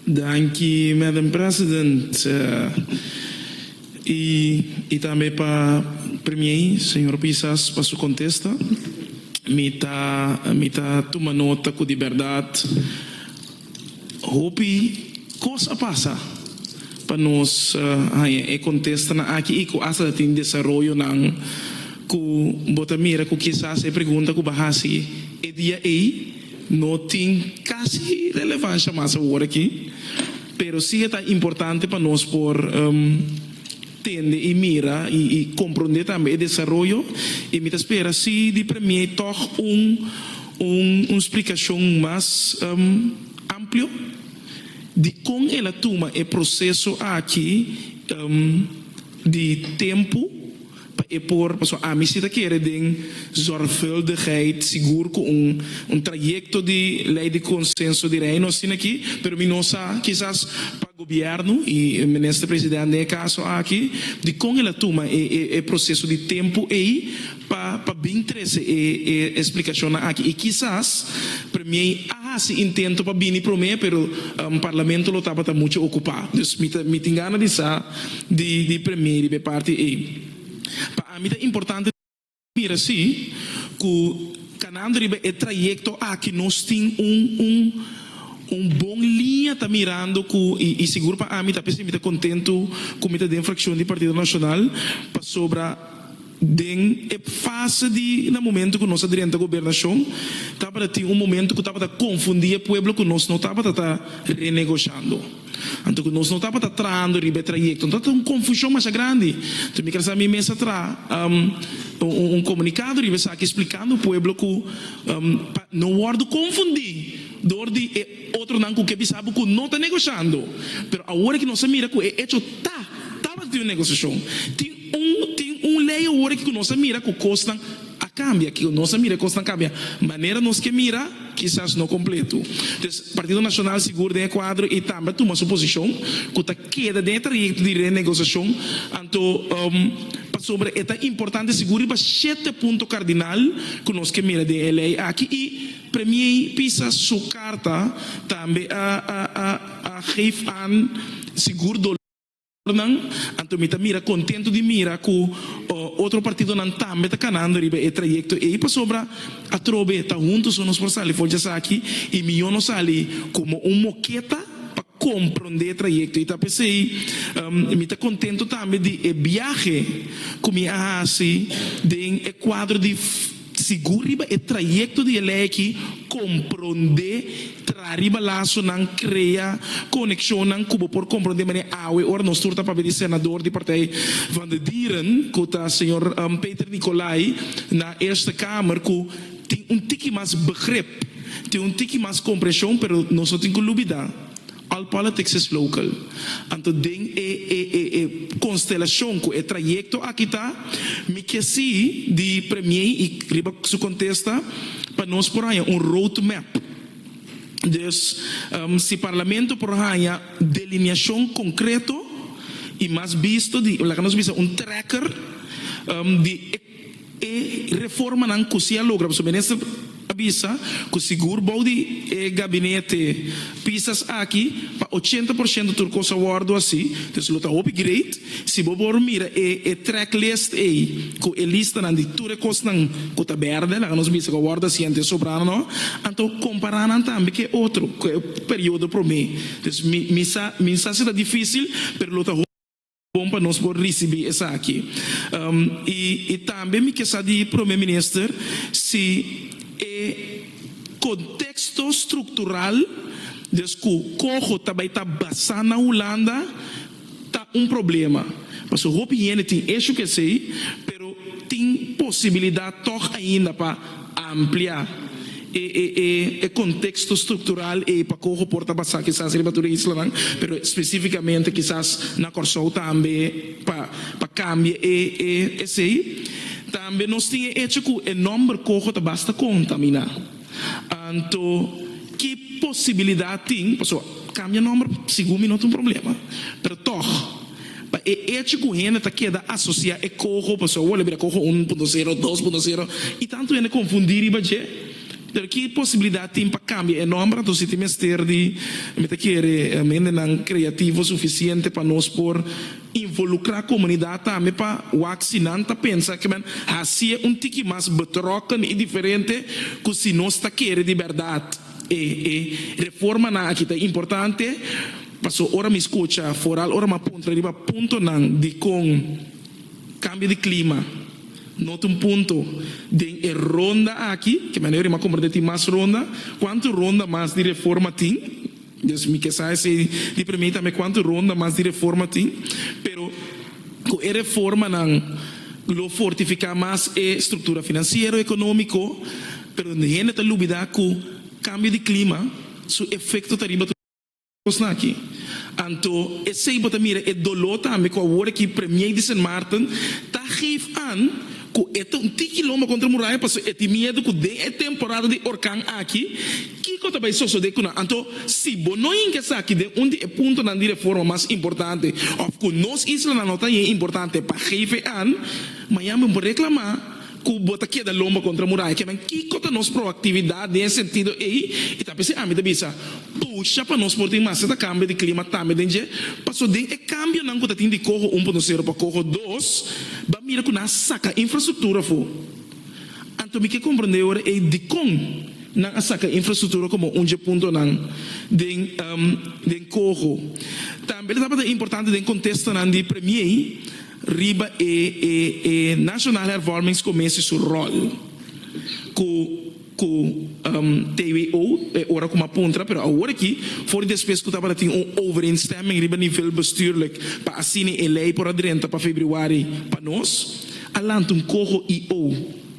Danki Madam President y tambe pa Premier Señor Pisas pa su contesta. Mi ta mi ta tuma nota cu di berdad hopi cos a pasa pa nos haya e contesta nan aki y cu asta ta tin desaroyonan cu bo ta mira cu kisas e pregunta cu bo a haci e dia ey No tin casi relevancia mas awor aki, pero si e ta importante pa nos por tende y mira y compronde tambe e desaroyo y mi ta spera si di Premier tog un un splicacion mas amplio dicon el a tuma e proceso aki di tempo. Pa e por, pasobra ami si ta kere den zorgvuldigheid, sigur ku un un trayekto di Lei di Konsenso di Reino asina aki, pero mi no sa, kisas pa gobièrnu i Minister President den e kaso aki, dikon el a tuma e e e proseso di tempu ei pa pa bin trese e e splikashonnan aki. I kisas Premiei a hasi intento pa bini promé, pero Parlamento lo tabata muchu okupá. Dus mi ta mi tin gana di sa. di premé riba e parti ei. Pa ami ta importante mira si ku kanando riba e trayekto aki nos tin un un un bon liña ta mirando ku i i sigur pa ami ta p'esei mi ta kontentu ku mi ta den frakshon di Partido Nashonal pasobra Den e fase di na momento ku nos a drenta gobernashon, tabata tin un momento ku tabata konfundí e pueblo ku nos no tabata ta renegoshando. Anto ku nos no tabata trahando riba e trayekto, no tabata un konfushon masha grandi. Enton mi kasa mi mes a traha un komunikado riba esaki splikando pueblo ku pa no wòrdu konfundí dor di e. Otronan cu ke bisa bo cu no ta negociando, pero awor aki nos a mira cu e hecho ta tabata tin un negociacion. Tin un tin un ley awor aki cu nos a mira cu cosnan a cambia, cu nos a mira e cosnan cambia manera nos ke mira, kisas no completo. Entonces Partido Nacional sigur den e cuadro y tambe a tuma su posicion cu ta keda den e trayecto di renegociacion, anto pasobra e ta importante sigur riba shete punto cardinal cu nos ke mira den e ley aki y, Premier Pisa su carta tambe a geef aan sigur dolornan, anto mi ta mira contento di mira cu otro partidonan tambe ta canando riba e trayecto ey pasobra atrobe ta hunto so nos por sali for djasaki y mijo no sali como un moketa pa Comprende e trayecto y ta p'esey mi ta contento tambe di e biahe cu mi a haci den e cuadro di sigur riba e trayecto di e ley aki, comprende, traha riba lazonan, crea coneccionnan cu bo por comprende manera awe ora nos tur ta papia di Senador di Partij van de Dieren cu ta Señor Peter Nicolay na Eerste Kamer cu Tin un tiki mas begrip, tin un tiki mas kompreshon pero nos no tin ku lubidá all politics is local. Anto den e e e e konstelashon ku e trayekto aki ta, mi ke si di Premie i riba su kontesta pa nos por haña un road map. Dus si Parlamento por haña delineashon konkreto i mas bisto di laga nos bisa un trekker di e. E reformanan cu si a logra, pasobra minister a bisa cu sigur bou di e gabinete pisas aki pa ochenta por ciento tur cos a wordo haci, entonces lo ta hopi great si bo por mira e e track list ey cu e listanan di tur e cosnan cu ta berde, laga nos bisa cu a wordo haci ante e sobrana no, anto compara nan tambe cu e otro, cu e periodo prome, entonces mi mi sa mi sa si ta dificil pero lo ta hopi. Bon pa nos por ricibi esaki. Y y tambe mi ke sa di Prome Minister si e contexto structural des cu coho ta bay ta basa na Hulanda ta un problema. Paso hopi hende tin issue cu esey pero tin posibilidad toch ainda pa. amplia e e e e konteksto struktural ei pa koho por ta basá kisas riba tur e islanan, pero spesifikamente kisas na Kòrsou tambe pa pa kambia e e esei. Tambe nos tin e echo ku e nòmber koho ta basta kontaminá. Anto ki posibilidat tin, pasobra kambia nòmber segun mi no ta un problema, pero tòg. Pa e echo cu hende ta keda asocia e coho pasobra awor lo bira coho un punto zero, dos punto zero y tanto hende confundi riba dje. Pero ki posibilidad tin pa cambia e nomber? Anto si tin mester di mi ta kere hendenan creativo suficiente pa nos por involucra comunidad tambe pa wak si nan ta pensa que men hacie un tiki mas betrokken y diferente cu si nos ta kere di berdad. E e reformanan aki ta importante paso ora mi scucha foral ora m'a puntra riba puntonan dicon cambio di clima no ta un punto den e ronda aki ke mi a neori m'a comprende tin mas ronda cuanto ronda mas di reforma tin dus mi ke sa esey di premi tambe cuanto ronda mas di reforma tin pero cu e reformanan lo fortifica mas e structura financiero economico Pero hende ta lubidá ku kambio di klima su efekto ta riba nosnan aki. Anto esei bo ta mira e doló tambe ku awor aki Premiei di Sint Maarten ta geef an ku e ta un tiki lomba kontra muraya pasobra e tin miedu ku den e temporada di orkan aki kiko ta bai sosodé ku nan. Anto si bo no hinka esaki den un di e puntonan di reforma mas importante òf ku nos islanan no ta hien importante pa geef an, mañan bo por reklamá. Ku bo ta keda lomba kontra muraya? Kiaman kiko ta nos proaktividat den e sentido ei? I ta p'esei ami ta bisa, Pusha pa nos por tin mester ta kambio di klima tambe den dje, paso den e kambionan ku ta tin di koho un punto sero pa koho dos, ban mira ku nan a saka infrastruktura afó. Anto mi ke komprondé ora ei dikon nan a saka infrastruktura komo un dje puntonan den den koho. Tambe lo tabata importante den kontestonan di Premiei. riba e e e National Hervormingscommissie su rol cu cu TWO e ora cu m'a puntra pero awor aki for despues cu tabatatin un overeenstemming riba nivel bestuurlijk pa asina e ley por a drenta pa febriuari pa nos a lanta un coho i o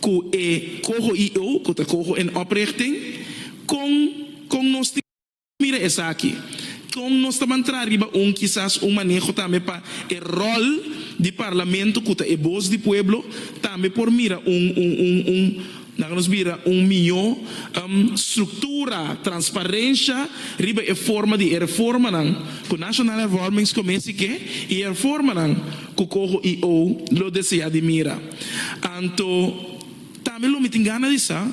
cu e coho y eu cu ta coho en oprichting? Con con nos tin mira esaki? Con nos ta ban traha riba un kisas un maneho tambe pa e rol di Parlamento cu ta e boz di pueblo tambe por mira un un un un laga nos bira un miyo structura, transparencia riba e forma di e reformanan cu National Hervormingscommissie ke y e reformanan cu coho y eu lo desea di mira. Anto, tambe lo mi tin gana di sa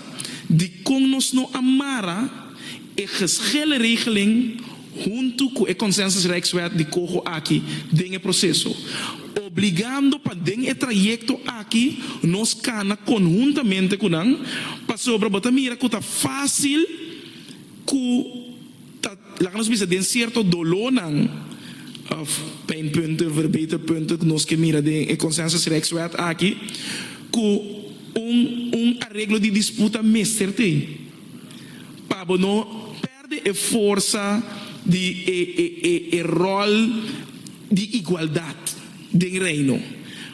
dikon nos no a mara e geshele regeling huntu ku e Consensusrijkswet di Coho aki den e proseso, obligando pa den e trayekto aki nos kana konhuntamente ku nan, pasobra bo ta mira ku ta fásil ku. Ta, laga nos bisa den cierto dolónan of pijnpunten, verbeterpunten cu nos ke mira den e Consensusrechtswet aki cu un un areglo di disputa mester tin pa bo no perde e forsa di e e e e rol di igualdad den Reino.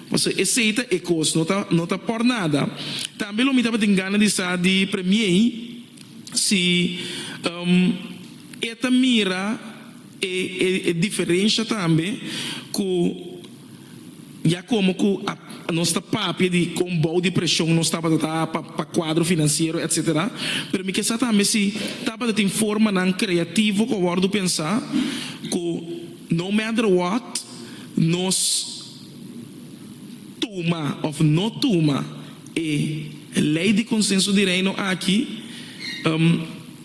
Pasobra esey ta e cos, no ta no ta por nada. Tambe lo mi tabatin gana di sa di Premier Si e ta mira e diferensha tambe ku ya komo ku nos ta papia di kon bou di preshon nos tabata ta pa kuadro finansiero etsetera. Pero mi ke sa tambe si tabata tin formanan kreativo ku a wòrdu pensa ku no matter what nos tuma òf no tuma E lei di Consenso di Reino aki,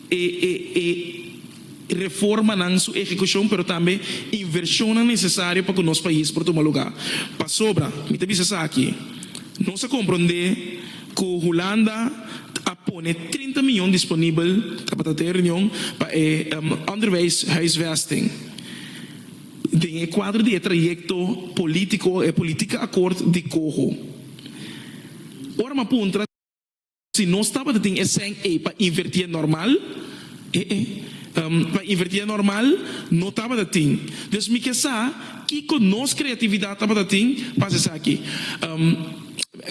e e e reformanan su ehecucion pero tambe inversionnan necesario pa cu nos pais por tuma lugar. Pasobra mi ta bisa esaki, nos a compronde cu Hulanda a pone trinta mion disponibel tabata ta e reunion pa e Onderwijshuisvesting. Den e kuadro di e trayekto polítiko, e politika akòrt di Coho, ora m'a puntra si nos tabata tin e sèn ei pa invertí e nòrmal, ee, pa invertí e nòrmal no tabata tin. Dus mi ke sa kiko nos kreatividat tabata tin pa hasi esaki.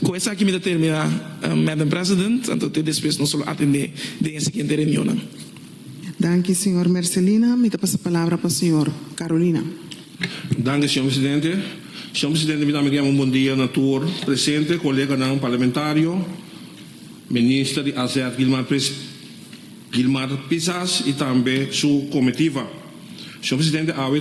Ku esaki mi ta terminá, Madam President, anto te despues nos lo atendé den e siguiente reunionnan. Danki señor Mercelina, mi ta pasa palabra pa señor Carolina. Danki señor presidente. Señor presidente mi ta ami keda un bon dia na tur presente, koleganan parlamentario, minister di AZ Guilmar Pris Guilmar Pisas y tambe su comitiva. Señor presidente awe.